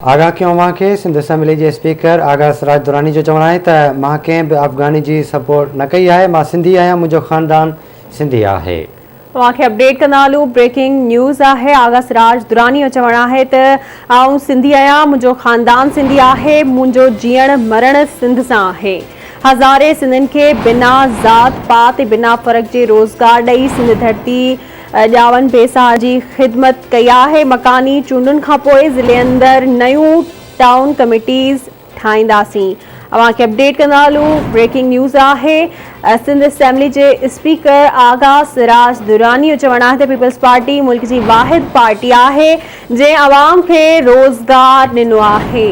آغا ڪيو اوهان کي سنڌ اسيمبلي جي اسپيڪر آغا سراج دراني جو چوڻ آهي ته مان ڪنهن به افغاني جي سپورٽ نه ڪئي آهي مان سنڌي آهيان منهنجو خاندان سنڌي آهي. اوهان کي اپڊيٽ ڪندا هلون بريڪنگ نيوز آهي آغا سراج دراني جو چوڻ آهي ته آئون سنڌي آهيان منهنجو خاندان سنڌي آهي منهنجو جيئڻ مرڻ سنڌ سان آهي هزارين سنڌين کي بنا ذات پات بنا فرق جي روزگار ڏئي سنڌ ڌرتي ڄاون پيسان جي خدمت ڪئي آهي، مڪاني چونڊن کانپوء ضلعي اندر نيون ٽائون ڪميٽيز ٺاهينداسين، اوهان کي اپڊيٽ ڪندا هلون، بريڪنگ نيوز آهي، سنڌ اسيمبلي جي اسپيڪر آغا سراج دراني جو چوڻ آهي ته پيپلز پارٽي ملڪ جي واحد پارٽي آهي جنهن عوام کي روزگار ڏنو آهي.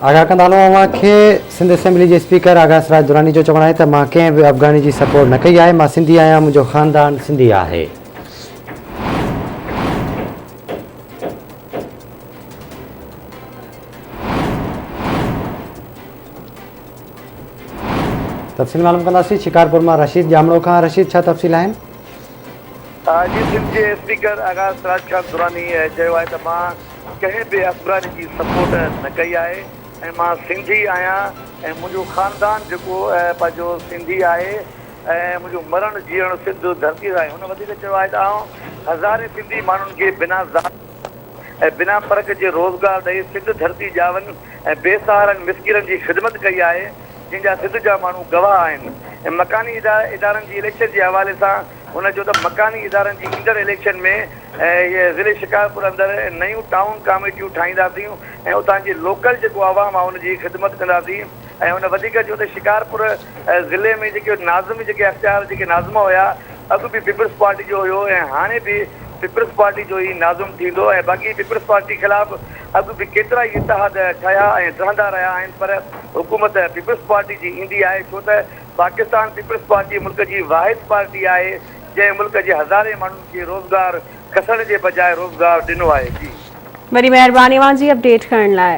آگاهه ڪندا هلون اوهان کي سنڌ اسيمبلي جي اسپيڪر آگاهه سراج دراني جو چوڻ آهي ته مان ڪنهن به افغاني جي سپورٽ نه ڪئي آهي مان سنڌي آهيان منهنجو خاندان سنڌي آهي تفصيل معلوم ڪنداسين شڪارپور مان رشيد ڄامڙو کان رشيد ڇا تفصيل آهن جي سنڌ جي اسپيڪر آغا سراج خان دراني چيو آهي ته مان ڪنهن به افغاني جي سپورٽ نه ڪئي آهي ۽ مان سنڌي آهيان ۽ منهنجو خاندان جيڪو پنهنجو سنڌي آهي ۽ منهنجو مرڻ جيئڻ سنڌ ڌرتي سان آهي هن وڌيڪ چيو آهي ته آئون هزارين سنڌي ماڻهن کي بنا ذات ۽ بنا فرق جي روزگار ڏئي سنڌ ڌرتي ڄاون ۽ بي سهارن مسڪيرن جي خدمت ڪئي آهي جنهن جا سنڌ جا ماڻهو گواهه آهن ۽ مڪاني ادارن جي اليڪشن جي حوالي سان هن چيو ته مڪاني ادارن جي ايندڙ اليڪشن ۾ ضلعي شڪارپور اندر نيون ٽائون ڪاميٽيون ٺاهينداسين ۽ اتان جي لوڪل جيڪو عوام آهي ان جي خدمت ڪنداسين ۽ هن وڌيڪ چيو ته شڪارپور ضلعي ۾ جيڪي ناظم جيڪي اختيار جيڪي ناظم هيا اڳ به پيپلز پارٽي جو هيو ۽ هاڻي به پيپلز پارٽي جو ئي ناظم ٿيندو ۽ باقي پيپلز پارٽي خلاف اڳ به ڪيترا ئي اتحاد ٺهيا ۽ ٺهندا رهيا آهن پر حڪومت پيپلز پارٽي جي ايندي آهي ڇو ته پاڪستان پيپلز پارٽي ملڪ جي واحد پارٽي آهي جنهن ملڪ جي هزارين ماڻهن کي روزگار کسڻ جي بجاء روزگار ڏنو آهي جي. وڏي مهرباني اوهان جي اپڊيٽ ڪرڻ لاء.